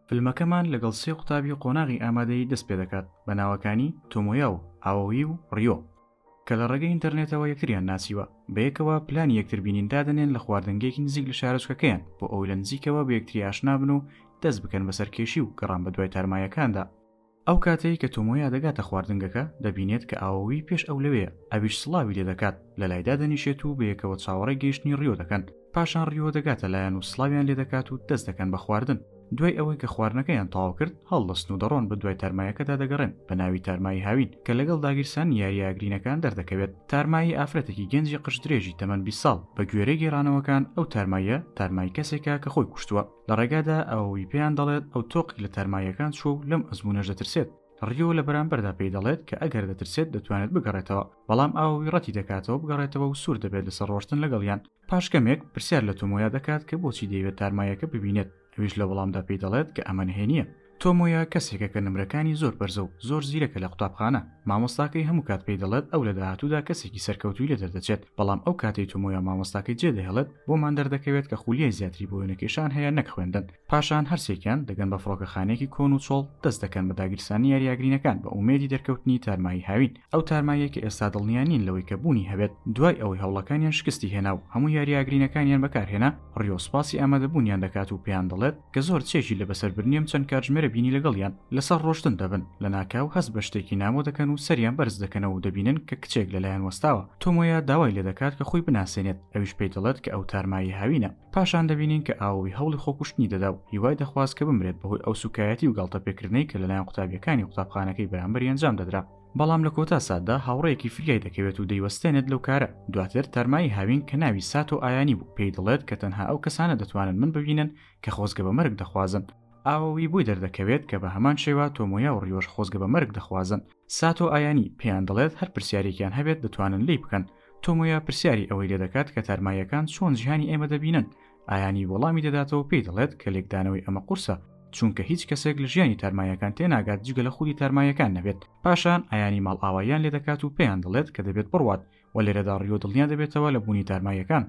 فلمەکەمان لەگەڵ سێ قوتابی قۆناغی ئامادەی دەست پێ دەکات بە ناوەکانی تۆمۆیا و ئاوەوی و ڕیۆ کە لە ڕێگەی ئینتەرنێتەوە یەکتریان ناسیوە بەیەکەوە پلانی یەکتر بینین دادنێن لە خواردنگەیەکی نزیک لە شارۆچکەکەیان بۆ ئەوی لە نزیکەوە بە یەکتری ئاشنابن و دەست بکەن بەسەر کێشی و گەڕان بە دوای تارمایەکاندا ئەو کاتەی کە تۆمۆیا دەگاتە خواردنگەکە، دەبینێت کە ئاوۆوی پێش ئەو لەوێیە، ئەویش سڵاوی لێ دەکات، لەلایدا دەنیشێت و بەیەکەوە چاوەڕێی گەیشتنی ریۆ دەکەن، پاشان ریۆ دەگاتە لایان و سڵاویان لێ دەکات و دەست دەکەن بە خواردن، دوای ئەوەی کە خواردنەکەیان تەواو کرد، هەڵدەستن و دەڕۆن بە دوای تارمایەکەدا دەگەڕێن بە ناوی تارمایی هاوین کە لەگەڵ داگیرسانی یارییە ئاگرینەکان دەردەکەوێت، تارمایی ئافرەتێکی گەنجی قژ درێژی تەمەن بیست ساڵ، بە گوێرەی گێڕانەوەکان ئەو تارماییە تارمایی کەسێکە کە خۆی کوشتووە. لە ڕێگادا ئەوەی پێیان دەڵێت ئەو تۆقی لە تارماییەکان چوە و لەم ئەزمونەش دەترسێت ڕیۆ لە بەرامبەردا پێی دەڵێت کە ئەگەر دەترسێت دەتوانێت بگەڕێتەوە بەڵام ئاوەوی ڕەتی دەکاتەوە بگەڕێتەوە و سوور دەبێت لەسەر ڕۆشتن لەگەڵیان پاش کەمێک پرسیار لە تۆمۆیا دەکات کە بۆچی دەیەوێت تارماییەکە ببینێت ئەویش لە وەڵامدا پێی دەڵێت کە ئەمە نهێنییە تۆمۆیا کەسێکە کە نمرەکانی زۆر بەرزە و زۆر زیرەکە لە قوتابخانە، مامۆستاکەی هەموو کات پێی دەڵێت ئەو لە داهاتوودا کەسێکی سەرکەوتووی لێ دەردەچێت، بەڵام ئەو کاتەی تۆمۆیا مامۆستاکەی جێدەهێڵێت، بۆمان دەردەکەوێت کە خولیای زیاتری بۆ وێنەکێشان هەیە نەک خوێندن. پاشان هەرسێکیان دەگەن بە فڕۆکەخانەیەکی کۆن و چۆڵ، دەست دەکەن بە داگیرسانی یاریاگرینەکان بە ئومێدی دەرکەوتنی تارمایی هاوین. ئەو تارماییە کە ئێستا دڵنیا نین لەوەی کە بوونی هەبێت، دوای ئەوەی هەوڵەکانیان شکستی هێنا و هەموو یارییە گرینگەکانیان بەکارهێنا، ڕیۆ سوپاسی ئامادەبوونیان دەکات و پێیان دەڵێت کە زۆر چێژی لە بەسەربردنیم چەند کاتژمێرە بینی لەگەڵیان لەسەر ڕۆشتن دەبن، لەناکاو هەست بە شتێکی نامۆ دەکەن و سەریان بەرز دەکەنەوە و دەبینن کە کچێک لەلایان وەستاوە، تۆمۆیا داوای لێدەکات کە خۆی بناسێنێت، ئەویش پێی دەڵێت کە ئەو تارماییە هاوینە. پاشان دەبینین کە ئاووی هەوڵی خۆکوشتنی دەدا و هیوای دەخواست کە بمرێت بەهۆی ئەو سوکایەتی و گاڵتەپێکردنەی کە لەلایەن قوتابیەکانی قوتابخانەکەی بەرامبەری ئەنجام دەدرا، بەڵام لە کۆتا ساتدا هاوڕێیەکی فریای دەکەوێت و دەیوەستێنێت لەو کارە، دواتر تارمایی هاوین کە ناوی ساتۆ ئایانی بوو پێی دەڵێت کە تەنها ئەو کەسانە دەتوانن من ببینن کە خۆزگە بە مەرگ دەخوازن، ئاووی بۆی دەردەکەوێت کە بە هەمان شێوە تۆمۆیا و ڕیۆش خۆزگە بە مەرگ دەخوازن، ساتۆ ئایانی پێیان دەڵێت هەر پرسیارێکیان هەبێت دەتوانن لێی بکەن، تۆمۆیا پرسیاری ئەوەی لێدەکات کە تارماییەکان چۆن جیهانی ئێمە دەبینن، ئایانی وەڵامی دەداتەوە پێی دەڵێت کە لێکدانەوەی ئەمە قورسە چونکە هیچ کەسێک لە ژیانی تارماییەکان تێناگات جگە لە خودی تارماییەکان نەبێت، پاشان ئایانی ماڵئاواییان لێدەکات و پێیان دەڵێت کە دەبێت بڕوات، وە لێرەدا ڕیۆ دڵنیا دەبێتەوە لە بوونی تارماییەکان.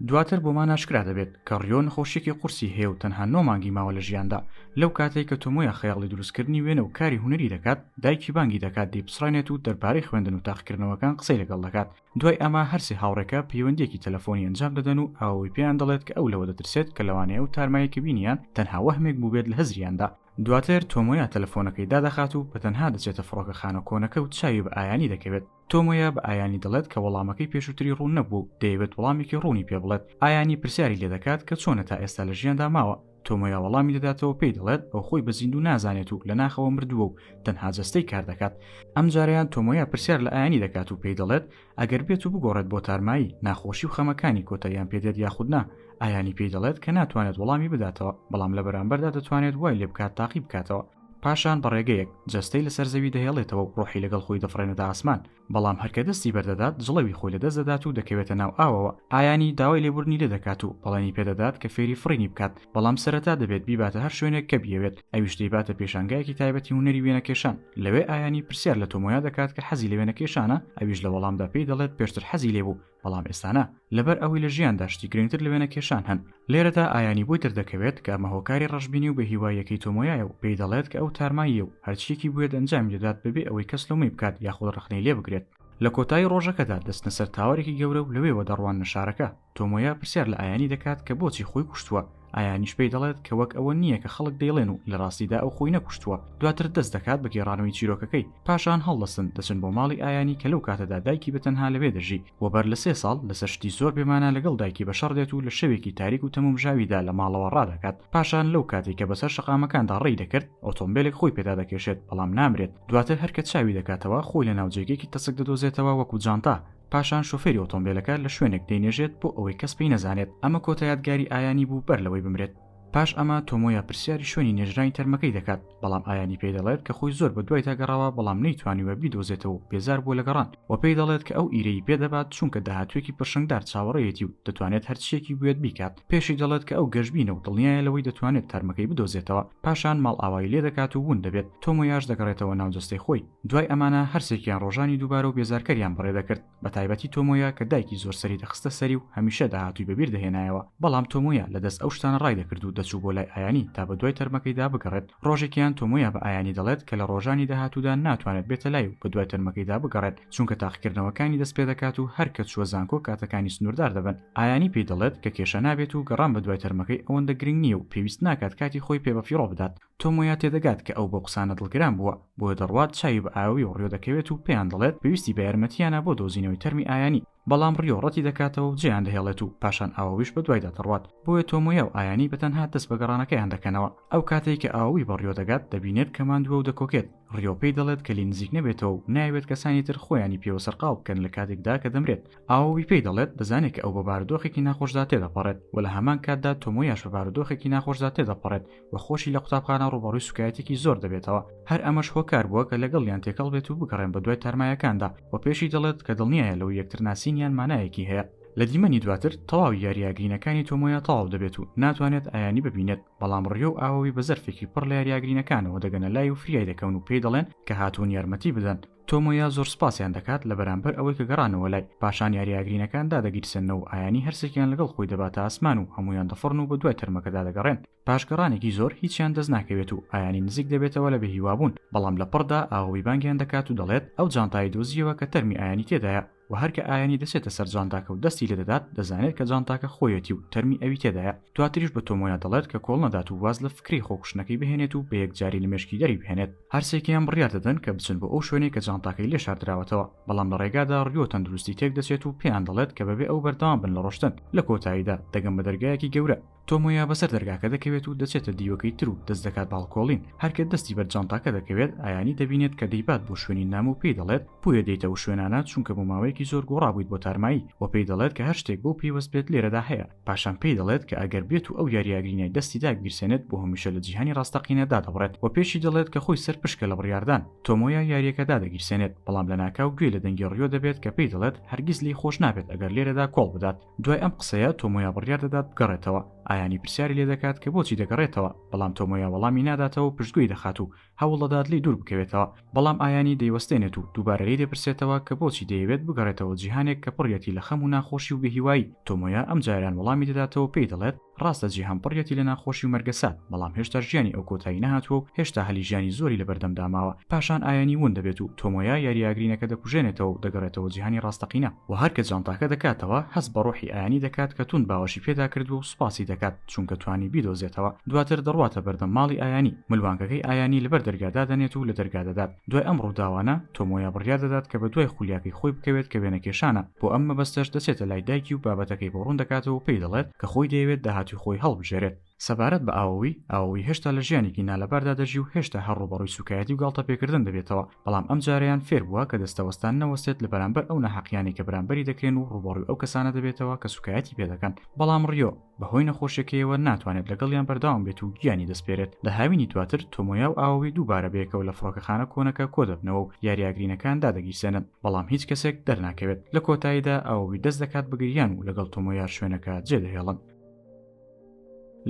دواتر بۆمان ئاشکرا دەبێت کە ڕیۆ نەخۆشییەکی قورسی هەیە و تەنها نۆ مانگی ماوە لە ژیاندا، لەو کاتەی کە تۆمۆیا خەیاڵی دروستکردنی وێنە و کاری هونەری دەکات، دایکی بانگی دەکات دەیپچڕێنێت و دەربارەی خوێندن و تاقیکردنەوەکان قسەی لەگەڵ دەکات، دوای ئەمە هەر سێ هاوڕێکە پەیوەندییەکی تەلەفۆنی ئەنجام دەدەن و ئەوەی پێیان دەڵێت کە ئەو لەوە دەترسێت کە لەوانەیە ئەو تارمایەی کە بینییان تەنها وەهمێک بووبێت لە هزریاندا، دواتر تۆمۆیا تەلەفۆنەکەی دادەخات و بەتەنها دەچێتە فڕۆکەخانە کۆنەکە و چاوی بە ئایانی دەکەوێت. تۆمۆیا بە ئایانی دەڵێت کە وەڵامەکەی پێشووتری ڕوون نەبووە و دەیەوێت وەڵامێکی ڕوونی پێ بڵێت، ئایانی پرسیاری لێ دەکات کە چۆنە تا ئێستا لە ژیاندا ماوە، تۆمۆیا وەڵامی دەداتەوە پێی دەڵێت ئەو خۆی بە زیندوو نازانێت و لە ناخەوە مردووە و تەنها جەستەی کار دەکات، ئەم جارەیان تۆمۆیا پرسیار لە ئایانی دەکات و پێی دەڵێت ئەگەر بێت و بگۆڕێت بۆ تارمایی، ناخۆشی و خەمەکانی کۆتاییان پێ دێت یاخود نا، ئایانی پێی دەڵێت کە ناتوانێت وەڵامی بداتەوە، بەڵام لە بەرامبەردا دەتوانێت وای لێ بکات تاقی بکاتەوە. پاشان بە ڕێگەیەک جەستەی لەسەر زەوی دەهێڵێتەوە و ڕۆحی لەگەڵ خۆی دەفڕێنێتە ئاسمان، بەڵام هەر کە دەستی بەردەدات جڵەوی خۆی لەدەست دەدات و دەکەوێتە ناو ئاوەوە، ئایانی داوای لێبوردنی لێ دەکات و بەڵێنی پێ دەدات کە فێری فڕینی بکات، بەڵام سەرەتا دەبێت بیباتە هەر شوێنێک کە بیەوێت، ئەویش دەیباتە پێشانگایەکی تایبەتی هونەری وێنەکێشان، لەوێ ئایانی پرسیار لە تۆمۆیا دەکات کە حەزی لە وێنەکێشانە، ئەویش لە وەڵامدا پێی دەڵێت پێشتر حەزی لێبوو، بەڵام ئێستانا، لەبەر ئەوەی لە ژیاندا شتی گرنگتر لە وێنەکێشان هەن. لێرەدا ئایانی بۆی دەردەکەوێت کە ئەمە هۆکاری ڕەشبینی و بێهیواییەکەی تۆمۆیایە و پێی دەڵێت کە ئەو تارماییە و هەرچییەکی بوێت ئەنجامی دەدات بەبێ ئەوەی کەس لۆمەی بکات یاخود ڕەخنەی لێ بگرێت. لە کۆتایی ڕۆژەکەدا دەچنە سەر تاوەرێکی گەورە و لەوێوە دەڕواننە شارەکە. تۆمۆیا پرسیار لە ئایانی دەکات کە بۆچی خۆی کوشتووە. ئایانیش پێی دەڵێت کە وەک ئەوە نییە کە خەڵک دەیڵێن و لە ڕاستیدا ئەو خۆی نەکوشتووە دواتر دەست دەکات بە گێڕانەوەی چیرۆکەکەی پاشان هەڵدەستن دەچن بۆ ماڵی ئایانی کە لەو کاتەدا دایکی بە تەنها لەوێ دەژی و بەر لە سێ ساڵ لەسەر شتی زۆر بێمانا لەگەڵ دایکی بە شەڕ دێت و لە شەوێکی تاریک و تەمومژاویدا لە ماڵەوە ڕادەکات پاشان لەو کاتەی کە بەسەر شەقامەکاندا ڕێی دەکرد ئۆتۆمبێلێک خۆی پێدا دەکێشێت بەڵام نامرێت دواتر هەر کە چاوی دەکاتەوە خۆی لە ناو جێگەیەکی تەسک دەدۆزێتەوە وەکو جانتا پاشان شۆفێری ئۆتۆمبێلەکە لە شوێنێک دەینێژێت بۆ ئەوەی کەس پێی نەزانێت ئەمە کۆتا یادگاری ئایانی بوو بەر لەوەی بمرێت پاش ئەمە تۆمۆیا پرسیاری شوێنی نێژرانی تەرمەکەی دەکات بەڵام ئایانی پێی دەڵێت کە خۆی زۆر بە دوایدا گەڕاوە بەڵام نەیتوانیوە بیدۆزێتەوە و بێزار بووە لە گەڕان وە پێی دەڵێت کە ئەو ئیرەیی پێ دەبات چونکە داهاتوویەکی پرشنگدار چاوەڕێیەتی و دەتوانێت هەرچییەکی بوێت بیکات پێشی دەڵێت کە ئەو گەشبینە و دڵنیایە لەوەی دەتوانێت تەرمەکەی بدۆزێتەوە پاشان ماڵئاوایی لێ دەکات و وون دەبێت تۆمۆیاش دەگەڕێتەوە ناو جەستەی خۆی دوای ئەمانە هەرسێکیان ڕۆژانی دووبارە و بێزارکەریان بەڕێ دەکرد، بەتایبەتی تۆمۆیا کە دایکی زۆر سەری دەخستە سەری و هەمیشە داهاتووی بەبیر دەهێنایەوە، بەڵام تۆمۆیا لە دەست ئەو شتانە ڕای دەکرد و دەچوو بۆ لای ئایانی تا بەدوای تەرمەکەیدا بگەڕێت، ڕۆژێکیان تۆمۆیا بە ئایانی دەڵێت کە لە ڕۆژانی داهاتوودا ناتوانێت بێتە لای و بەدوای تەرمەکەیدا بگەڕێت چونکە تاقیکردنەوەکانی دەست پێ دەکات و هەر کە چووە زانکۆ کاتەکانی سنووردار دەبن، ئایانی پێی دەڵێت کە کێشە نابێت و گەڕان بەدوای تەرمەکەی ئەوەندە گرنگ نییە و پێویست ناکات کاتی خۆی پێ بەفیڕۆ بدات. تۆم وەیا تێدەگات کە ئەو بەو قسانە دڵگران بووە، بۆیە دەڕوات چاوی بە ئاوی و ڕیۆ دەکەوێت و پێیان دەڵێت پێویستی بە یارمەتییانە بۆ دۆزینەوەی تەرمی ئایانی، بەڵام ڕیۆ ڕەتی دەکاتەوە و جێیان دەهێڵێت و پاشان ئاوویش بەدوایدا دەڕوات، بۆیە تۆم وەیا و ئایانی بەتەنها دەست بە گەڕانەکەیان دەکەنەوە، ئەو کاتەی کە ئاووی بە ڕیۆ دەگات دەبینێت کە ماندووە و دەکۆکێت، ڕیۆ پێی دەڵێت کە لێی نزیک نەبێتەوە و نایەوێت کەسانی تر خۆیانی پێوە سەرقاڵ بکەن لە کاتێکدا کە دەمرێت، ئاووی پێی دەڵێت دەزانێت کە ئەو بە بارودۆخێکی ناخۆشدا تێدەپەڕێت و لە هەمان کاتدا تۆم وەیاش بە بارودۆخێکی ناخۆشدا تێدەپەڕێت، و خۆشی لە قوتابخانە ڕووبەڕووی سوکایەتێکی زۆر دەبێتەوە، هەر ئەمەش هۆکار بووە کە لەگەڵیان تێکەڵ بێت و بگەڕێن بە دوای تارمایەکاندا، و پێشی دەڵێت کە دڵنیایە لەوەی یەکتر ناسینیان مانایەکی هەیە. لە دیمەنی دواتر تەواوی یارییە گرینەکانی تۆمۆیا تەواو دەبێت و ناتوانێت ئایانی ببینێت، بەڵام ڕیۆ و ئاۆی بە زەرفێکی پڕ لە یارییە گرینەکانەوە دەگەنە لای و فریای دەکەون و پێی دەڵێن کە هاتوون یارمەتی بدەن، تۆمۆیا زۆر سپاسیان دەکات لە بەرامبەر ئەوەی کە گەڕانەوە لای، پاشان یارییە ئاگرینەکان دادەگیرسێننەوە و ئایانی هەرسێکیان لەگەڵ خۆی دەباتە ئاسمان و هەموویان دەفڕن و بەدوای تەرمەکەدا دەگەڕێن، پاش گەڕانێکی زۆر هیچیان دەست ناکەوێت و ئایانی نزیک دەبێتەوە لە بێهیوابوون، بەڵام لە پڕدا ئاوەوی بانگیان دەکات و دەڵێت، ئەو جانتایەی دۆزییەوە کە تەرمی ئایانی تێدایە. وە هەر کە ئایەنی دەچێتە سەر جانتاکە و دەستی لێ دەدات دەزانێت کە جانتاکە خۆیەتی و تەرمی ئەوی تێدایە، دواتریش بە تۆمۆیا دەڵێت کە کۆڵ نەدات و واز لە فکرەی خۆ کوشتنەکەی بهێنێت و بە یەکجاری لە مێشکی دەری بهێنێت. هەر سێکیان بڕیار دەدەن کە بچن بۆ ئەو شوێنەی کە جانتاکەی لێ شاردراوەتەوە، بەڵام لە ڕێگادا ڕیۆ تەندروستی تێک دەچێت و پێیان دەڵێت کە بەبێ ئەو بەردەوام بن لە ڕۆشتن، لە کۆتاییدا دەگەن بە دەرگایەکی گەورە، تۆمۆیا بەسەر دەرگاکە دەکەوێت و دەچێتە دیوەکەی تر و دەست دەکات باڵکۆڵین هەرکە دەستی بەر جانتاکە دەکەوێت ئایانی دەبینێت کە دەیبات بۆ شوێنی نامۆ و پێی دەڵێت بۆیە دێیتە و شوێنانە چونکە بۆ ماوەیەکی زۆر گۆڕابوویت بۆ تارمایی و پێی دەڵێت کە هەر شتێک بۆ پەیوەست بێت لێرەدا هەیە پاشان پێی دەڵێت کە ئەگەر بێت و ئەو یاریاگرینای دەستی دابگیرسێنێت بۆ هەمیشە لە جیهانی ڕاستەقینە دادەبڕێت و پێشی دەڵێت کە خۆی سەرپشکە لە بڕیاردان تۆمۆیا یاریەکە دادەگیرسێنێت بەڵام لەناکاو گوێی لە دەنگی ڕیۆ دەبێت کە پێی دەڵێت هەرگیز لێی خۆش نابێت ئەگەر لێرەدا کۆڵ بدات دوای ئەم قسەیە تۆمۆیا بڕیار دەدات بگەڕێتەوە ئایانی پرسیاری لێ دەکات کە بۆچی دەگەڕێتەوە بەڵام تۆمۆیا وەڵامی ناداتەوە پشتگوێی دەخات و هەوڵدەدات لی دوور بکەوێتەوە بەڵام ئایانی دەیوەستێنێت و دووبارە لی دەپرسێتەوە کە بۆچی دەیەوێت بگەڕێتەوە جیهانێک کە پڕیەتی لە خەم و ناخۆشی و بێهیوایی تۆمۆیا ئەم جاریان وەڵامی دەداتەوە پێی دەڵێت ڕاستە جیهان پڕیەتی لە ناخۆشی و مەرگەسات، بەڵام هێشتا ژیانی ئەو کۆتایی نەهاتووە و هێشتا هەلی ژیانی زۆری لەبەردەمدا ماوە، پاشان ئایەنی وون دەبێت و تۆمۆیا یارییە ئاگرینەکە دەکوژێنێتەوە و دەگەڕێتەوە جیهانی ڕاستەقینە. وە هەر کە جانتاکە دەکاتەوە، هەست بە ڕۆحی ئایەنی دەکات کە توند باوەشی پێدا کردووە و سوپاسی دەکات چونکە توانی بیدۆزێتەوە، دواتر دەڕواتە بەردەم ماڵی ئایەنی، ملوانکەکەی ئایەنی لەبەر دەرگا دادەنێت و لە دەرگا دەدات، دوای ئەم ڕووداوانە، تۆمۆیا بڕیار دەدات کە بەدوای خولیاکەی خۆی بکەوێت کە وێنەکێشانە، بۆ ئەم مەبەستەش دەچێتە لای دایکی و بابەتەکەی بۆ ڕوون دەکاتەوە و پێی دەڵێت، کە خۆی دەیەوێت داهاتووی خۆی هەڵبژێرێت. سەبارەت بە ئاوەوی، ئاوەوی هێشتا لە ژیانێکی نالەباردا دەژی و هێشتا هەر ڕووبەڕووی سووکایەتی و گاڵتەپێکردن دەبێتەوە، بەڵام ئەم جارەیان فێر بووە کە دەستەوەستان نەوەستێت لە بەرامبەر ئەو ناهەقییانەی کە بەرامبەری دەکرێن و ڕووبەڕووی ئەو کەسانە دەبێتەوە کە سووکایەتی پێ دەکەن، بەڵام ڕیۆ بە هۆی نەخۆشیەکەیەوە ناتوانێت لەگەڵیان بەردەوام بێت و گیانی دەسپێرێت. لە هاوینی دواتر، تۆمۆیا و ئاوەوی دووبارە بەیەکەوە لە فڕۆکەخانە کۆنەکە کۆدەبنەوە و یارییە گرینەکان دادەگیرسێنن. بەڵام هیچ کەسێک دەرناکەوێت لە کۆتاییدا ئەوەی دەست دەکات بگریان و لەگەڵ تۆمۆیار شوێنەکە جێدەهێڵن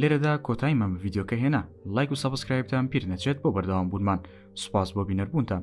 لێرەدا کۆتای مەم ڤیددیوکە هێنا لایک و سەبسکرایبتان پیر نەچێت بۆ بەردەوام بوونمان سوپاس بۆ بینەربوونتان